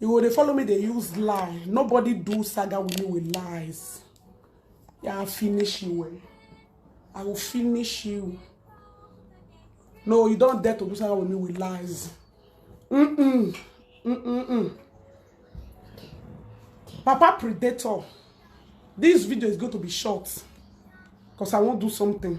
you go dey follow me dey use lie nobody do saga with me with lies yeah, i finish you well i will finish you no you don dare to do saga with me with lies mm-mm mm-mm papa predator this video is going to be short because i wan do something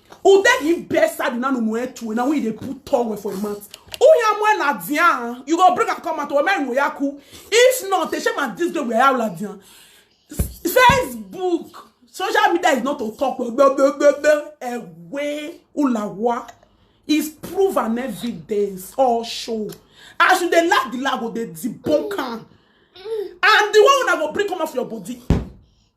Ude give best side na no moe tu na we dey put tongue for him mouth. Uya moe la dian. You go bring am come out o me no yaku. If not, they shame at this day we are la dian. Facebook, social media is not to talk blah, blah, blah, blah, blah, away ulawa is proof and evidence all show. As you dey laugh the laugh go dey debunk am. And the one una go bring come out for your body.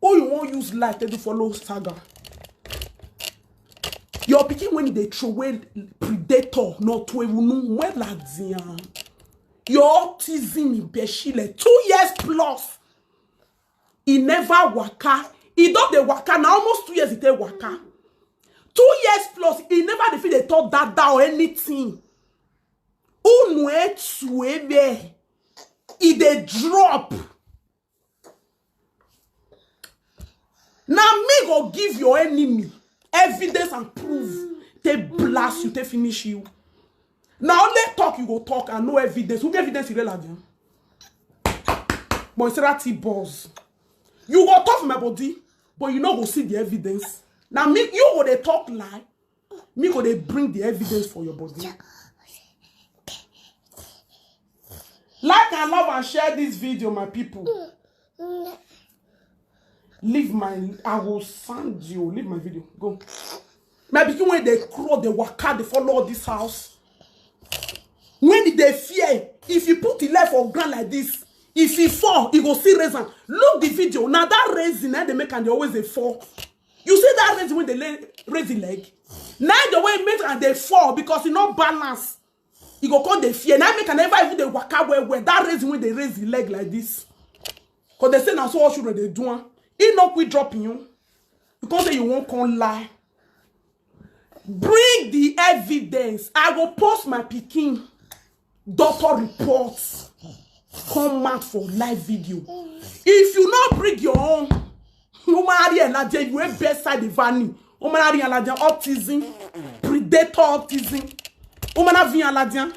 Who you wan use life take do follow saga? Your pikin when e dey throway predator no to ewunu wella diyan. Your autism ibeshile two years plus e never waka e don dey waka na almost two years e take waka two years plus e never dey fit dey talk dada or anything unu etu ebe e dey drop na me go give your enemy evidence and proof take blast you take finish you na only talk you go talk and no evidence who get evidence you dey like am moisturity balls you go talk for my body but you no go see the evidence na me you go dey talk lie Me go dey bring the evidence for your body. Like and love and share this video, my people. Leave my, I will send you. Leave my video. Go. My pikin when they crawl, they waka, they follow all this house. When did they fear? If you put the life on ground like this, if he fall, he go see reason. Look the video. Now that reason, eh, they make and they always they fall. you see that raisin wey dey lay raise the leg na the way e make am dey fall because e no balance e go come dey fear na make am never even dey waka well well that raisin wey dey raise the leg like this because they say na so all children dey do am e no quick drop you you come say you wan come lie Bring the evidence. I go post my pikin doctor reports. Come out for live video. If you not bring your own, no matter and that you ain't bedside the vanny. No matter and that autism, predator autism. No matter and that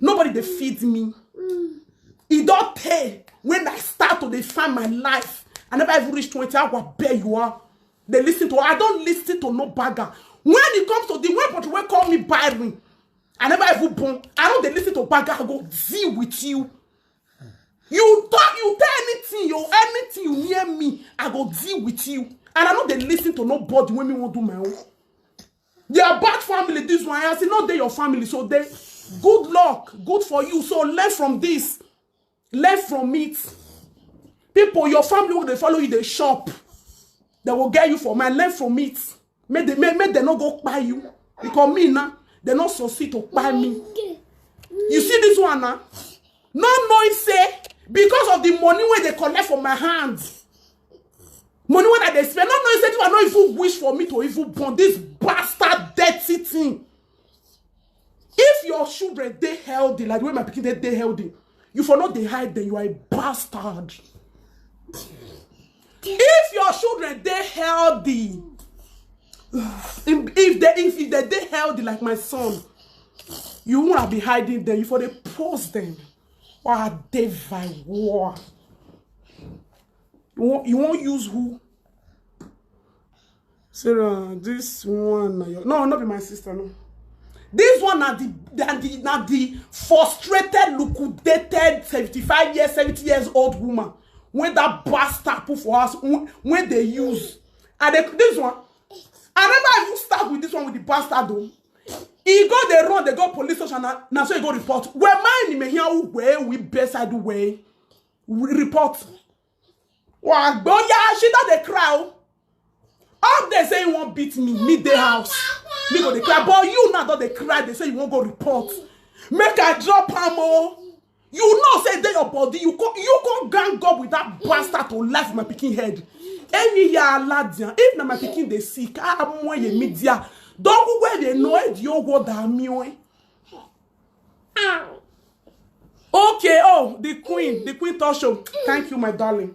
nobody dey feed me e don tey when i start to dey find my life i never even reach twenty hour beg you are dey lis ten to i don lis ten to no bagger when e comes to the way body wey call me byron i never even born i no dey lis ten to bagger i go deal with you you talk you tell anything yo anything you near me i go deal with you and i no dey lis ten to nobody wey me wan do my own They are bad family, this one. As e no dey your family, so they good luck, good for you. So learn from this. Learn from it. People, your family wey dey follow you dey shop. They go get you for mind. Learn from it. Make they make, make they no go kpai you. Because me now, they no succeed to kpai me. You see this one now? Not knowing say because of the money wey dey collect for my hand, Money when I dey spend, no know say this one no even wish for me to even born this bastard dirty thing. If your children dey healthy, like the way my pikin dey dey healthy, you for not dey hide them, you are a bastard. If your children dey healthy, if if they if, if they dey healthy like my son, you won't have been hiding them, you for dey post them. Why I dey by war? You wan you wan use who? Sarah, this one na your no, no be my sister no. This one na the na the na the frustrated, liquidated, seventy-five years, seventy years old woman wey that bastard put for house wey wey dey use. And they, this one, I never even start with this one with the bastard o. e go dey run dey go police station na na so e go report wee maa ni mehia wee wi bedside wee report wa gboya she don dey cry o all day say you wan beat me me dey house me go dey cry but you now don dey cry dey say you wan go report make i drop am o you know say e dey your body you come you come gang up with that bastard to lie for my pikin head any ya aladian if na my pikin dey sick amoye media don wey dey know e di owo da mi o okay oh the queen the queen talk show thank you my darling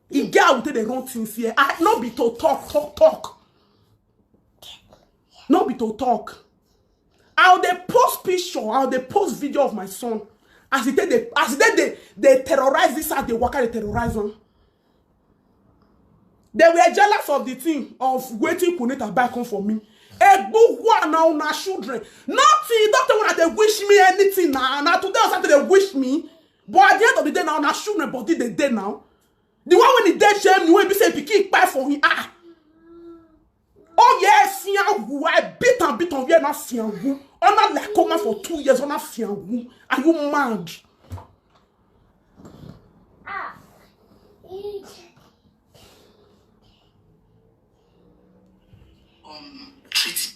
e get how we take dey run things here i no be to talk talk talk no be to talk i go dey post picture i go dey post video of my son as e take dey as e take dey dey terrorize this house dey waka dey terrorize am they were jealous of the thing of wetin kunita buy come for me egbugwa na una children nothing doctor una dey wish me anything na na today on saturday wish me but at the end of the day now na shoe na body dey dey now the one wey dey dey shame me wey be say pikin kpai for him ah oh yeah fiangu i beat am beat am yeah na fiangu ona lakoma for two years ona fiangu are you mad um, treat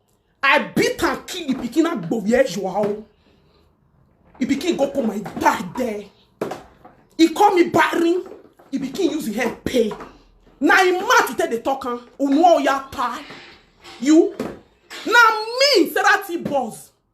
I beat and kill the pikin and go where you are. oh. The pikin go put my back there. He call me barren. The pikin use him hand pay. Na him mouth you take dey talk am. Unu oya tie. You. Na me Sarah T boss.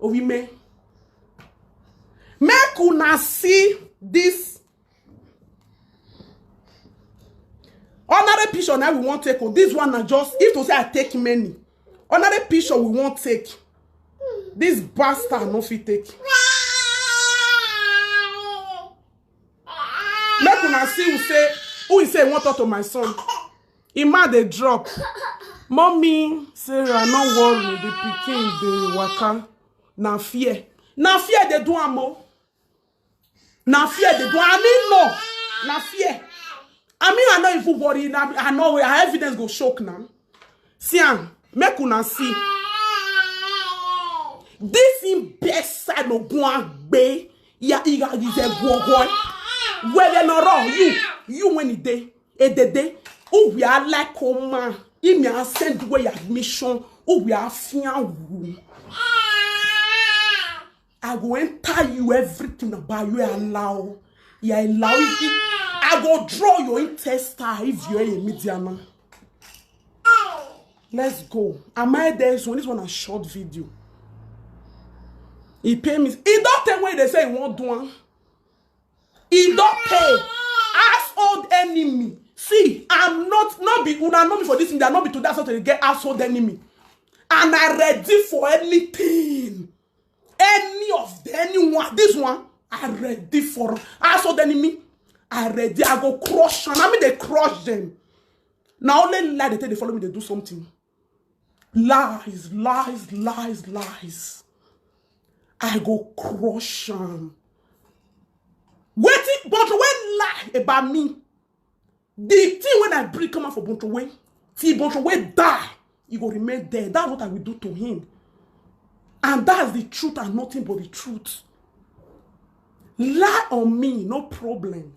Owime. Make una see this honorary picture now we wan take o oh, this one na just if to say i take many honorary picture we wan take this bastard no fit take make una see who say who he say he wan talk to my son Emma dey drop. Mommy, Sarah, no worry, the pikin dey waka. Na fear. Na fear dey do am o. Na fear dey do am. I mean no. Na fear. I mean I no even worry. Na, I no worry. Her evidence go shock now. See am. Make una see. This in best side no go and be. Ya, ya, ya, ya, go, go. Where they no run. You, you when it dey. edede uwe alike oma imi a send wey ya mission uwe afia wu i go enter you everything about you allow you allow you i go draw your intestine if you are a mediana let's go am i there this one this one na short video e pay me e don tey wey dey say e wan do am e don pay household enemy see i'm not not be una know me for this media not be today i start to get household enemy and i ready for anything any of the anyone this one i ready for household enemy i ready i go crush am i mean dey crush them. na only lie dey tell dey follow me dey do something Lies, lies, lies, lies. I go crush am. Wetin Bonto wey lie about me? The thing when I bring come out for Bonto wey, till Bonto wey die, he go remain there. That's what I will do to him. And that's the truth and nothing but the truth. Lie on me, no problem.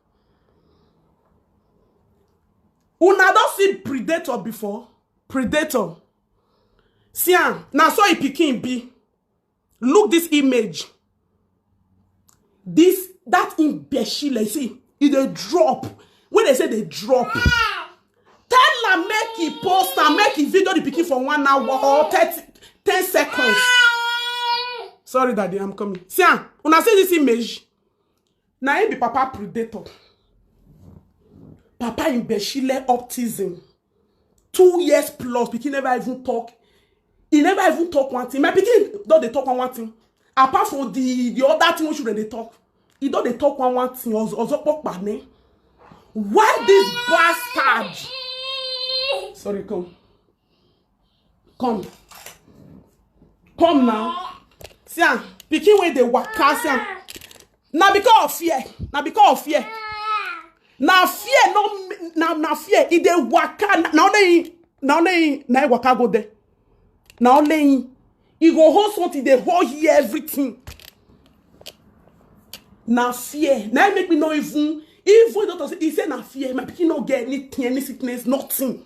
una don see predator before predator see am na so e pikin be look this image this that imbecile see e dey drop wey dey say dey drop tell am make e post am make e video the pikin for one hour or thirty ten seconds sorry daddy i'm coming see am una see this image Na him be papa predator. Papa imbecile optism. Two years plus, pikin never even talk. He never even talk one thing. My pikin don dey talk one one thing. Apart from the the other thing wey children dey talk, he don dey talk one one thing. Ozo ozo popa ni. Why this bastard? Sorry, come. come come now see am pikin wey dey waka see am na because of fear na because of fear na fear no na na fear e dey waka na only him na only him na him waka go there na only him e go hold something dey hold here everything na fear na him make me no even even doctor say he say na fear my pikin no get anything any sickness nothing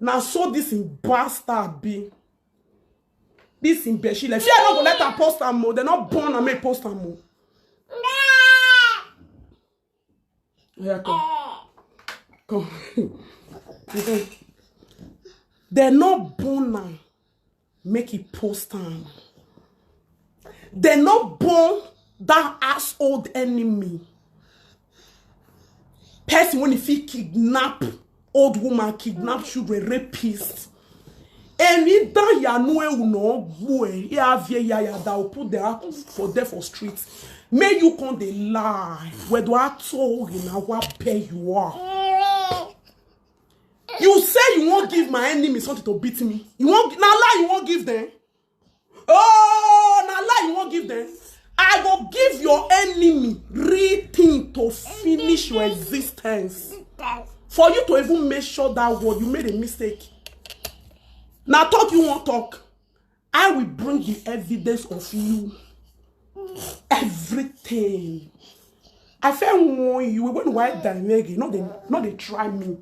na so this im bastard be this im beshi like fear no go let am post am o dem no born am make e post am o. oya come come dem no born am make he post am dem no born that household enemy person wey fit kidnap old woman kidnap children rapist eni da yanu ewu na ogbu e ya avie ya ya da opu de aku for there for street make you come dey lie wedo ato ori na wa pay you are you say you won't give my enemy something to beat me you won't. Now lie you won't give them oh now lie you won't give them i will give your enemy real thing to finish your existence for you to even make sure that word you made a mistake Now talk you won't talk I will bring the evidence of you. Everything. I fẹ́ warn you when you wipe down leg, you no dey no dey try me.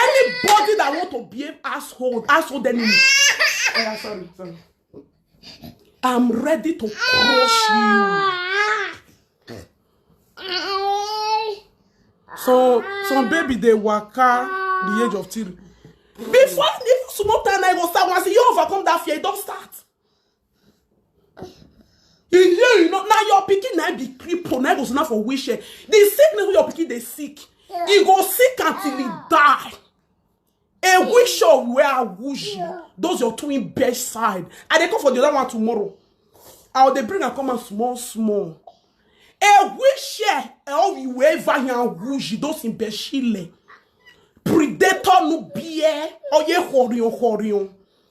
Anybody that want to behave asshole, asshole enemy. Oh, yeah, sorry, sorry. I'm ready to crush you. so some baby dey waka the age of three before even small time na e go start once e don overcome that fear e don start e hear you know na your pikin na be cripple na go stand for wheelchair the sickness wey your pikin dey sick e go sick until e die A wish of where I wish those your twin best side. I dey come for the other one tomorrow. I will dey bring and come and small small. A wish of you wherever you are wish those in Beshile. Predator no beer. Oye horion horion.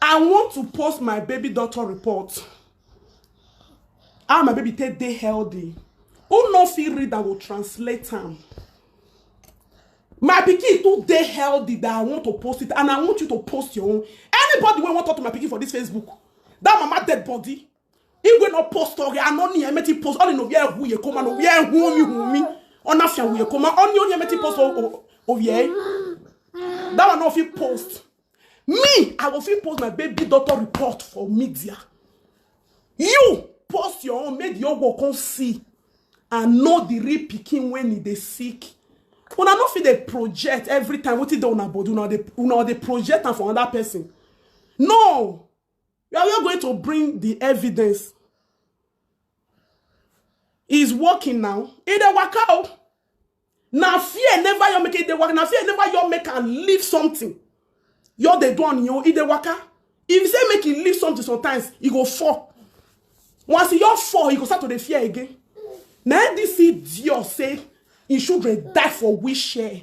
I want to post my baby doctor report. How my baby take dey healthy. Who no fit read I will translate am. My pikin too dey healthy that I want to post it and I want you to post your own. Anybody wey wan talk to my pikin for this Facebook, that mama dead body, igwe na post oge anọ ni emeti post ọ ni no bia hu ye koma no bia hu mi hu mi ọ na fia hu ye koma ọ ni onye emeti post o ye that one no fit post me i go fit post my baby doctor report for media you post your own make the old world come see and know the real pikin when e dey sick una no fit dey project every time wetin dey una body una dey una dey project am for another person no We are not going to bring the evidence. He's working now. He dey waka o. Na fear never your make it dey waka. Na fear never your make and leave something. Your dey do on your he dey waka. If you say make he leave something sometimes, he go fall. Once he your fall, he go start to dey fear again. Na this idiot say him children die for wheelchair.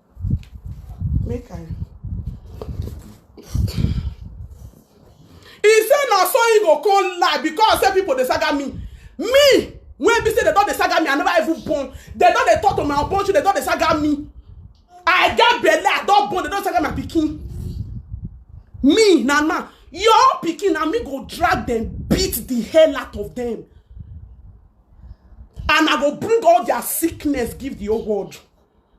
make i He say na so he go come lie because say people dey saga me me wey be say dem don dey saga me i never even born dem don dey talk to my unborn children dem don dey saga me i get belle i don born dem don saga my pikin me na na your own pikin na me go drag dem beat the hell out of dem and i go bring all their sickness give the whole world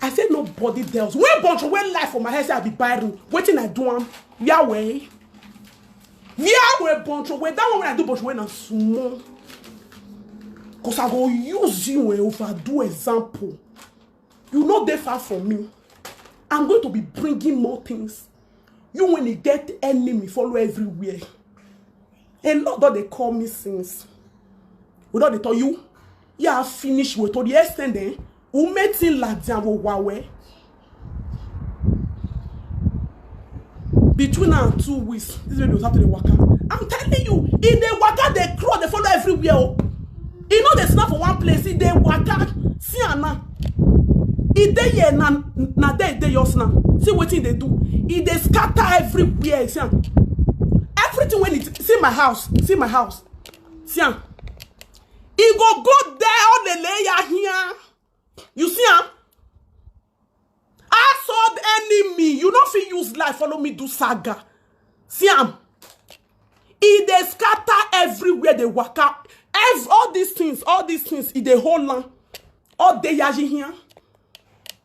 I say nobody tells. When bunch of when life for my head say I be Byron, wetin I do am? Yahweh. Yahweh bunch of when that one when I do bunch of when I'm small. Cause I go use you and overdo example. You no dey far from me. I'm going to be bringing more things. You when you get enemy follow everywhere. A lot don dey call me since. We don dey tell you yà á finish wò to the extent ẹ̀ ume ti ń làdí àwọn wà wẹ́. between now and two weeks this baby go start to dey waka i'm telling you e dey waka dey crawl dey follow everywhere o e no dey stand for one place e dey waka see am now e dey here na na there e dey yours now see wetin e dey do e dey scatter everywhere see am everything wey e see my house see my house see am e go go there all the layer here you see am assault enemy you no fit use life follow me do saga see am e dey scatter everywhere dey waka Ev all these things all these things e dey hold am all dey yaji here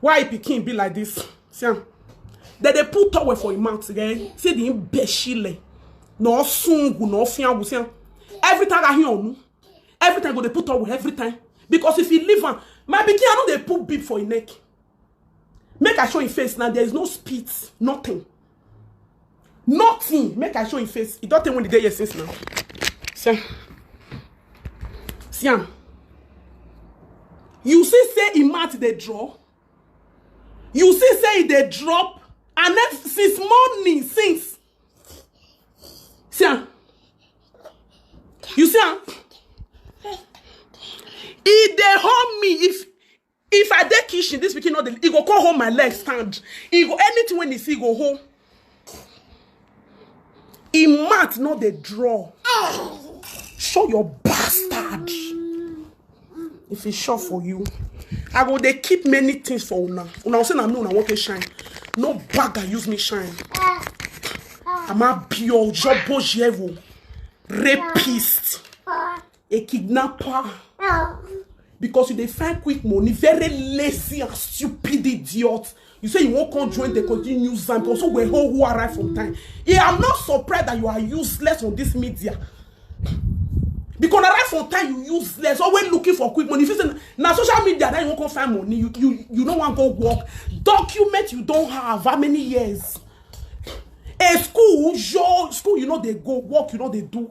Why pikin be like this? See am. Dem dey put towel for im mouth then see the imbecile. No sungu, no fiangu, see am. Every time I hear onu, every time go dey put towel every time. Because if you leave am, my pikin I no dey put bib for im neck. Make I show im face now, there is no spit, nothing. nothing make i show him face e don tey when e dey here since now see see am you see say im mouth dey draw you see say e dey drop and then since morning since see am you see am e dey hold me if If I dey kitchen, this pikin no dey, e go come hold my leg stand. E go anything when e see, e go hold. E mouth no dey draw. Show your bastard. If e sure for you, I go dey keep many things for una. Una go say na me una wan take shine. No bag and use me shine. Ama bio jobo jevo. Rapist. a kidnapper because you dey find quick money very lazy and stupid idiot you say you wan come join the continue use am because we hold who arrive from time i am not surprised that you are useless on this media because arrive from time you useless always looking for quick money you fit say na social media that you wan come find money you you you no wan go work document you don have how many years a school your school you no dey go work you no dey do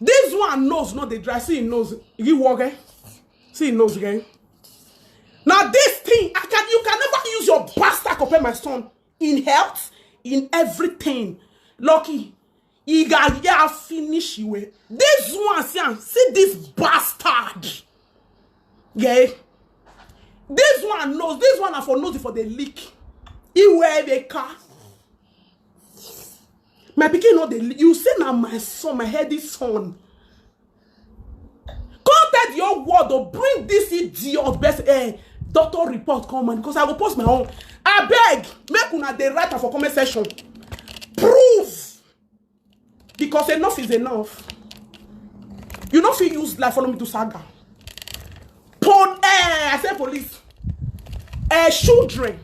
This one nose no dey dry. See him nose. You walk eh? See him nose again. Now this thing, I can you can never use your bastard compare my son in health, in everything. Lucky. He got yeah, finish you. eh. This one, see, am, see this bastard. Yeah. This one knows. This one na for nose for the leak. He wear the car. my pikin no dey you say na my son my healthy son come tell the whole world to bring this idiot best eh, doctor report come on because i go post my own abeg make una dey write am for comment section prove because enough is enough you no fit use life follow me do saga Pol eh, I say police. Eh, children,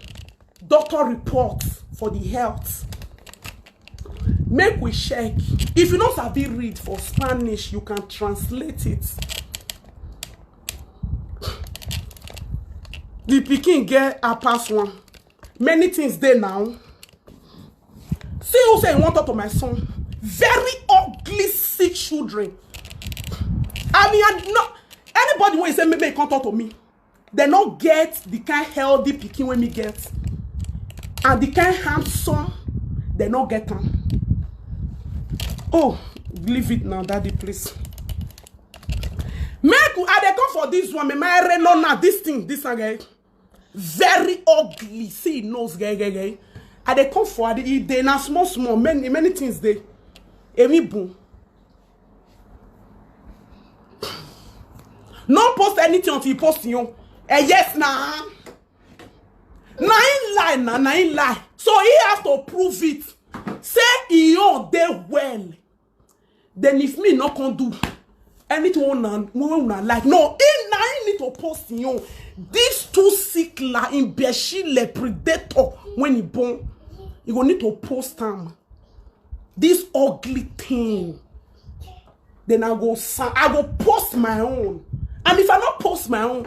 doctor report for the health. Make we check. If you no sabi read for Spanish, you can translate it. The pikin get a pass one. many things dey now see who say he wan talk to my son very ugly sick children i mean i no anybody wey say make make he come talk to me dem no get the kind healthy pikin wey me get and the kind handsome dem no get am oh leave it now daddy please make i dey come for this one me my reno now this thing this one eh very ugly see him nose gẹ́gẹ́gẹ́ i dey come for adi e dey na small small many many things dey emi bun no post anything until you post your own eh yes na na him lie na na him lie so he has to prove it say he own dey well then if me no come do anything wey una wey una like no him na him need to post him own this two sick la imbecile predator when he born he go need to post am this ugly thing then i go sa- i go post my own and if i no post my own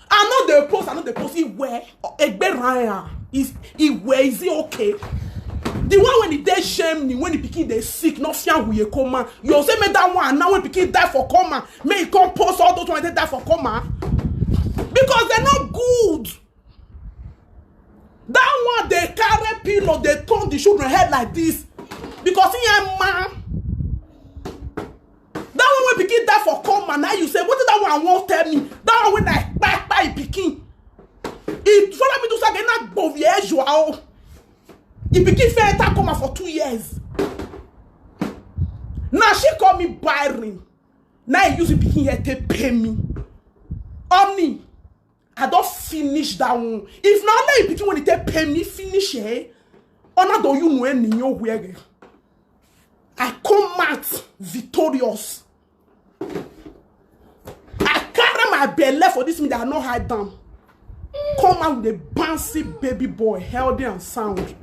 I know they post, I know they post. Iwe, Egbe Raya, is Iwe, is it okay? The one when he dey shame me, when he pikin dey sick, no fear who you come man. You say make that one, now when pikin die for coma, make he come post all those ones that die for coma. Because they're not good. That one dey carry pillow, dey turn the children head like this. Because he am man. that one wey pikin die for coma na you say wetin that one wan tell me that one wey na kpakpa e pikin e follow me do sage na gbovie ejua o e pikin fit enter coma for two years na she call me byron na e use e pikin head take pay me honey i don finish that one if na only pikin wey dey take pay me finish eh ọ̀nà tó yún mu ẹ̀ nìyẹn ó wẹ̀rẹ̀ i come out victorious i carry my belle for this meeting i no hide am come out with a bouncy baby boy healthy and sound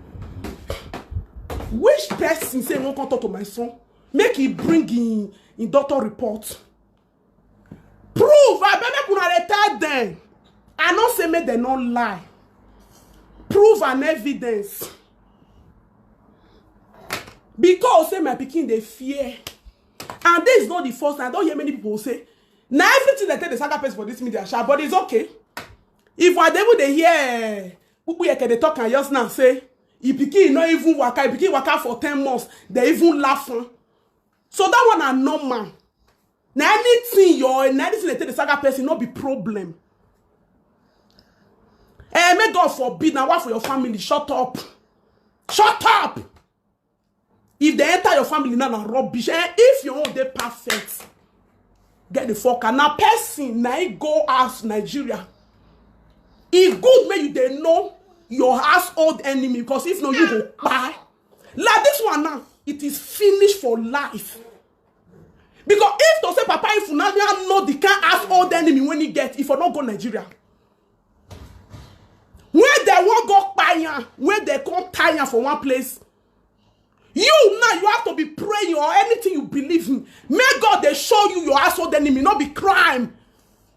which person say he wan come talk to my son make he bring him him doctor report proof abeg make una dey tell dem i no say make dem no lie proof and evidence because say my pikin dey fear and this is not the first time i don hear many people say na everything dem take dey saga person for this media sha but it's okay if i dey even dey hear pupu yeke dey talk am just now say e pikin no even waka e pikin waka for ten months dey even laugh am so that one na normal na anything your na anything dey take the saga person no be problem eh make god forbid na one for your family shut up shut up if they enter your family now na rubbish eh if your own dey perfect get the fuck out na person na him go house nigeria e good make you dey know your household enemy because if no you go kpai Like this one now, it is finished for life. Because if to say Papa if Ifunanya know the kind ass old enemy when he get, if I not go Nigeria. Where they won't go paya, where they come tire for one place. You now, you have to be praying or anything you believe in. May God they show you your asshole enemy, not be crime.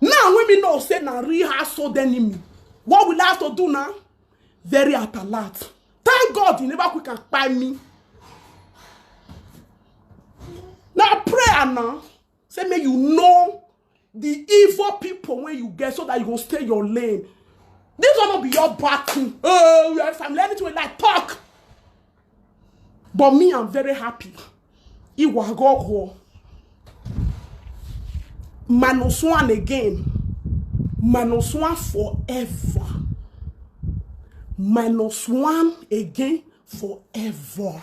Now when we know say na real household enemy, what will I have to do now? Very at alert. Thank God he never quick and kpai me. Now prayer now, say make you know the evil people when you get so that you go stay in your lane. This one no be your battle. Oh, yes, I'm learning to like talk. But me, I'm very happy. Iwagogo. Minus one again. Minus one forever. Minus one again forever.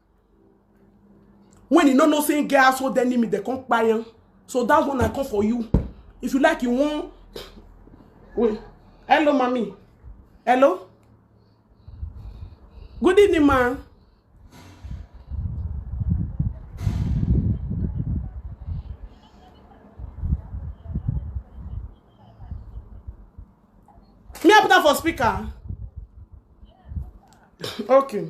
when you no know say him get household enemy dem come kpai am so that one i come for you if you like you wan wait hello mami hello good evening ma me i put am for speaker okay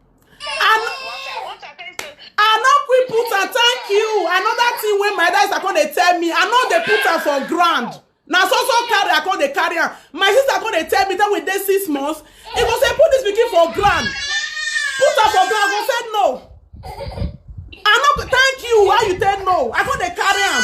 I no quick put am thank you another thing wey my dad come dey tell me I no dey put am for ground na so so carry I come dey carry am my sister come dey tell me tell we dey six months he go say put this pikin for ground put am for ground I go say no I no thank you why you tell no I come dey carry am.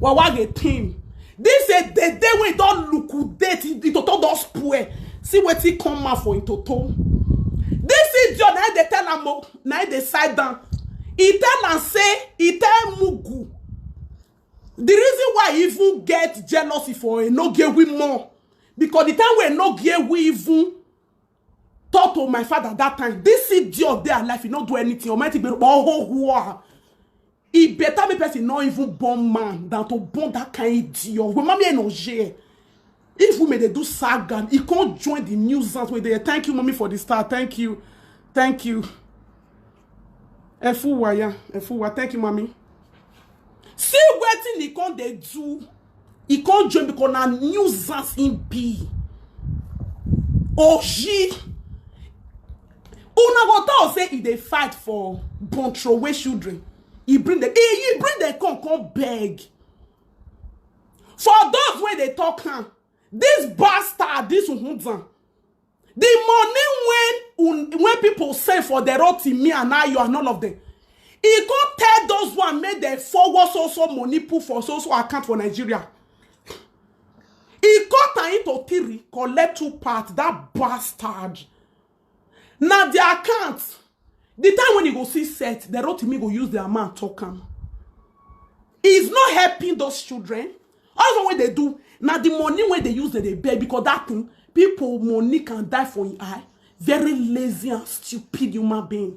Wawa the team. This a the day when don't look who date it toto don spoil. See what he come out for in toto. This is your night they tell am o, na him dey side down. He tell am say he tell Mugu. The reason why he even get jealousy for Enogewi more because the time when Enogewi even talk to my father that time this idiot dey alive he no do anything almighty gbero ohohoa e better make person no even born man than to born that kind idiot wey mami eno je if women dey do saga e come join the nuisance wey dey thank you mami for the star thank you thank you. Efuwa ya, Efuwa. Thank you, mommy. See wetin he come dey do. He come join because na nuisance him be. Oji. Una go talk say he dey fight for born throwaway children. He bring them. He, he bring them come come beg. For those wey dey talk am, This bastard, this Uhunzan, the money when, when people send for the road to me and now you and all of them, he go tell those one make dem forward so so money put for so so account for nigeria he cut am into three collect two part that bastard na their account the time when e go see set the rotimi go use their man talk am is not helping those children all the one wey dey do na the money wey dey use dem dey beg because that thing people money can die for im eye very lazy and stupid human being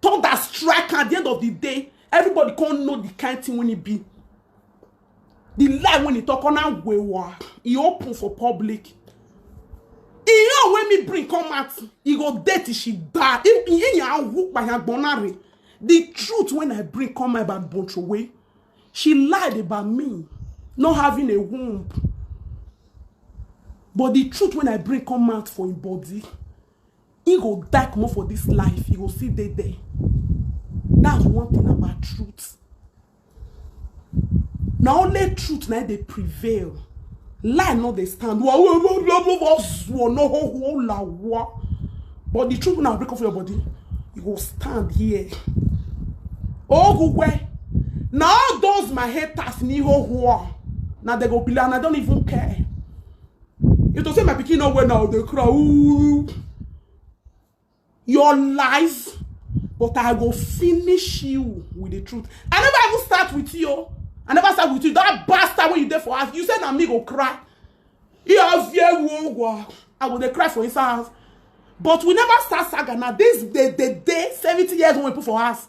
thunder strike am at the end of the day everybody come know the kind thing wey e be the lie wey e talk on am wewa e open for public e own wey me bring come out e go dey till she die if iye yan wu payagbona re the truth wey i bring come out about bontrowe she lied about me not having a womb but the truth wey i bring come out for im body He go die comot for this life, he go still dey there. That's one thing about truth. Na only truth na dey prevail. Lie no dey stand. But the truth na break off your body. You go stand here. Ogugwe. Na all those my haters ni ho ho. Na they go be like, I don't even care. You to say my pikin no well now, they cry. Ooh. Your life, but I go finish you with the truth. I never even start with you. I never start with you. That bastard when you there for us, you said na me go cry. He has yeah, I go dey cry for his house. But we never start saga now. This the the day 70 years when we put for us.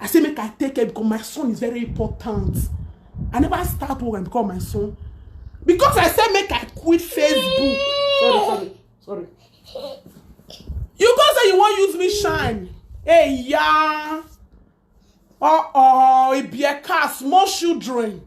I say make I take care because my son is very important. I never start work and become my son. Because I said make I quit Facebook. Sorry, sorry, sorry. You go say you wan use me shine. Hey, yeah. Uh-oh, it be a car, small children.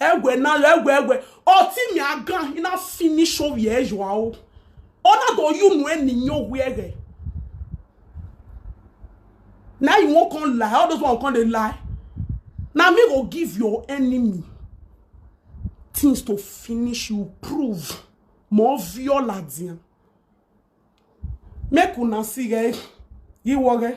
Egwe na yo egwe egwe. Oti mi agan ina finish o ye yo o. Ona do you no eni yo were. Now you won't come lie. All those one come they lie. Now me go give your enemy things to finish you prove more viola dia. Make una see guys. You worry.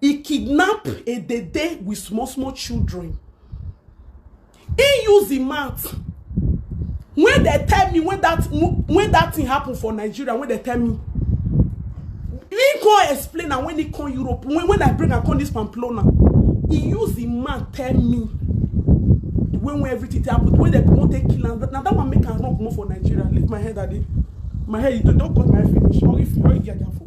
He kidnap a dede with small small children. He use the mouth. When they tell me when that when that thing happen for Nigeria, when they tell me, he come explain and when he come Europe, when, when I bring and come this Pamplona, he use the mouth tell me when when everything take happen, when they won't take kill am. Now that one make am run comot for Nigeria. Leave my head at it. My head, you don't cut my head finish. Or if you don't get that for.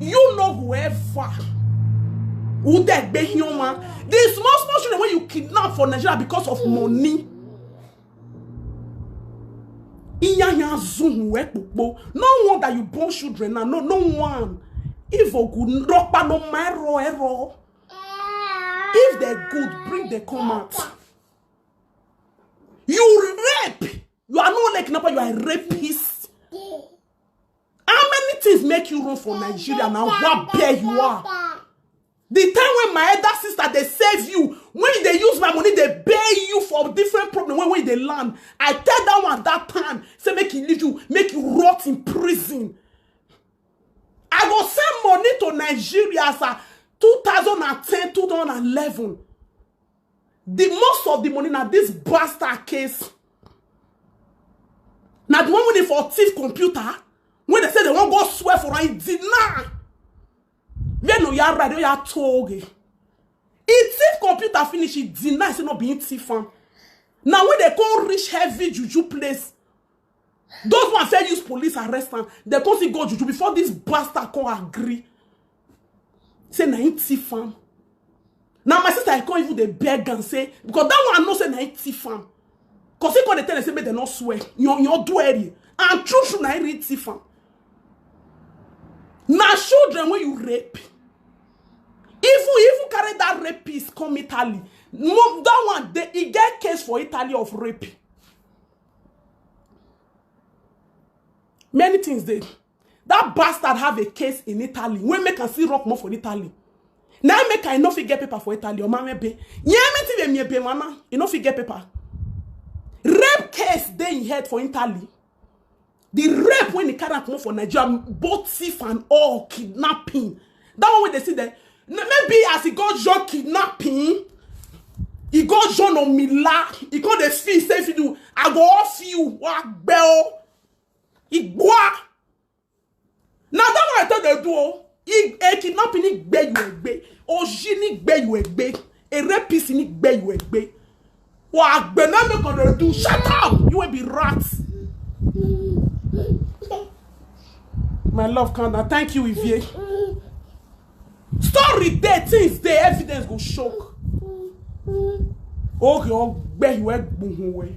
you know whoever who dey gbe human the small small children wey you kidnap for nigeria because of money iyanya zun we popo no wonder you born children na no no one if ogu ropa no ma ero ero if they good bring the come out you rape you are not like number you are a rapist How many things make you run for Nigeria na wabe you are? The time when my elder sister dey save you, when you dey use my money dey pay you for different problem when when you dey land, I tell that one that time say make he leave you, make you rot in prison. I go send money to Nigeria as a 2010, 2011. The most of the money na this bastard case. Na the one wey dey for thief computer wey dey say they wan go swear for am deny. Where no ya right, no ya toge. He thief computer finish, he deny say no be him thief am. Na when they come reach heavy juju place, those one fit use police arrest am. They come still go juju before this bastard come agree. say na him thief am na my sister i come even dey beg am say because that one i know say na him thief am cause he come dey tell am say make dem no swear yan yan do eri and true true na him really thief am na children wey you rape even even carry that rapist come italy no that one dey e get case for italy of rape many things dey That bastard have a case in Italy wey make am still rock more for Italy. Na im make I no fit get paper for Italy. Ọmọ mi be. Yẹn mi ti be mi ebe mana. You no fit get paper. Rape case dey in head for Italy. The rape when he carry am comot for Nigeria, both thief and all kidnapping. That one wey dey see there, n- maybe as he go join kidnapping, he go join Omila, he come dey feel say if you do, I go off you, wa gbẹ o. Igbua. Now that one I thought they do. oh. Ig- A kidnapping ni gbe you egbe. Oji ni gbe you egbe. A rapist ni gbe you egbe. Wa gbe na make una do. Shut up. You will be rats. My love calm down. Thank you, Ivie. Story there, things there, evidence go shock. Okay, I'll bet you a boom away.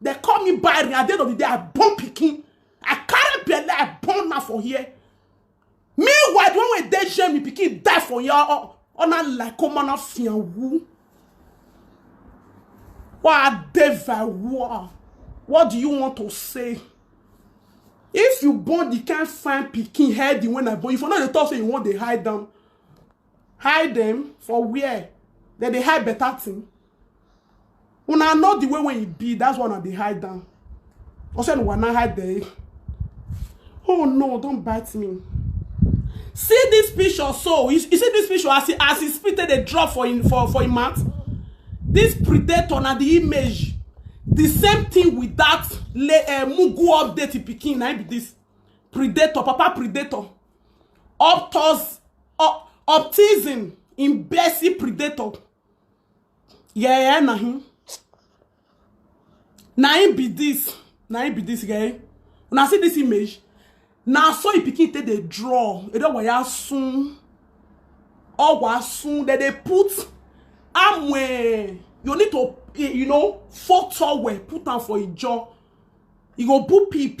They call me barren. At the end of the day, I born pikin. I carry belle. I born now for here. Meanwhile, the one wey dey shame me pikin die for here. Oh, oh, na like come on, fianwu. Wa deva wa. What do you want to say? If you born the kind fine pikin head the when I born, if you no dey talk say you wan dey hide them, hide them for where? Dem dey hide better thing. una know the way wey e be that's why una dey hide am also una wan hide the oh no don bite me see this picture so you, you see this picture as e as e spit take dey drop for im for for im mouth this predator na the image the same thing with that le uh, mugu update pikin na im be this predator papa predator optos op, optism imbecile predator Yeah, yeah, na him. Na him be this. Na him be this guy. Una see this image? Na so e pikin take dey draw. E don waya sun. Owa sun. Dem dey put amwe. You need to, eh, you know, four towel. Put am for e jaw. E go boop peep.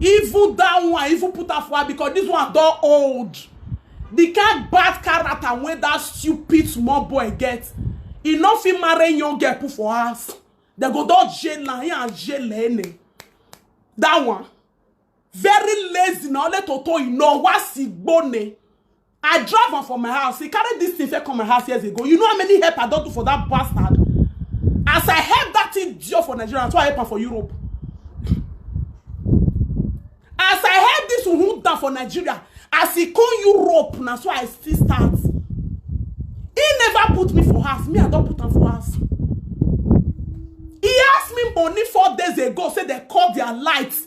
Even that one, even put am for her because this one don old. The kind bad character wey that stupid small boy get, e no fit marry young girl put for house. Dem go don jail am, he and jail any. That one, very lazy na only toto e know, wa si gbone. I drive am for my house. He carry this thing come my house years ago. You know how many help I don't do for that bastard? As I help that thing deal for Nigeria, so I help am for Europe. As I help this one down for Nigeria, as he come Europe, now so I still start. He never put me for house. Me, I don't put am for house. He asked me money four days ago, say they called their lights.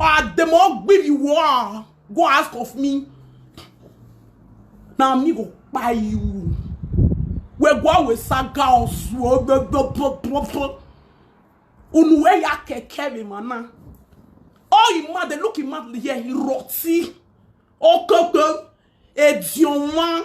Or dem all give you war. Go ask of me. Na me go buy you. We go awe saga osuo. Unu we ya keke mi mana. Oh, you mad, they look him mad here, he rotty. Okoko, Edionwa,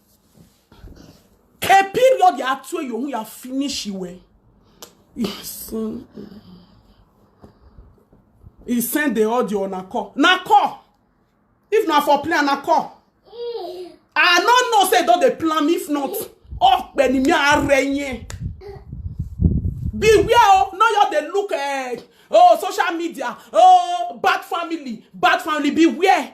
A period ya tue yo ya finish iwe. Yes. He sent the audio on a call. Na call. If na for plan, na call. I no know say don dey plan if not. Oh, ni mi are yen. Beware oh, no you dey look eh, oh social media, oh bad family, bad family beware.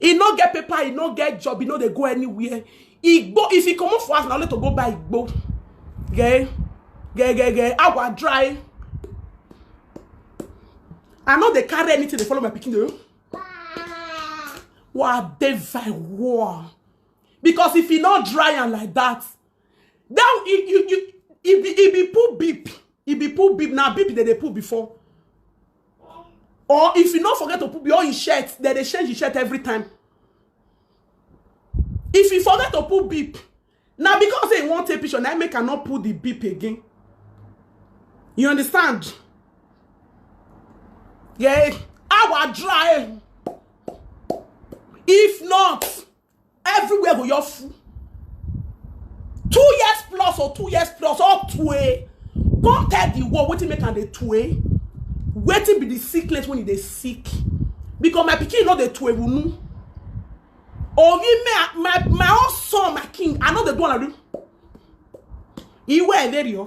e no get paper e no get job e no dey go anywhere igbo if e comot for house na only to go buy igbo geh geh geh geh agwa dry i no dey carry anything dey follow my pikin o wa dey very warm because if e no dry am like that That you you you e be e be pull beep. E be pull beep. Now beep they dey pull before. Or if you no forget to put your shirt, then they change your shirt every time. If you forget to put beep, now because they want take picture, now make I not put the beep again. You understand? Yeah, our dry. If not, everywhere go just full two years plus or two years plus or two eh come tell the world wetin make am dey two eh wetin be the sickness when e dey sick because my pikin no dey two ehunu omi me my my own son my king i no dey do am like this iwe eleriyo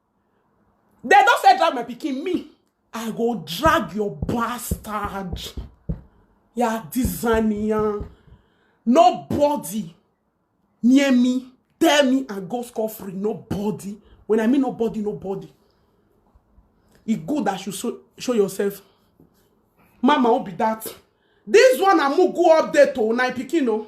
Dem don say drag my pikin me I go drag your bastard ya dizaniyan nobody near me tell me I go score free nobody when I mean nobody nobody e good that you show, show yourself mama who be that this one na mugu update o na pikin o.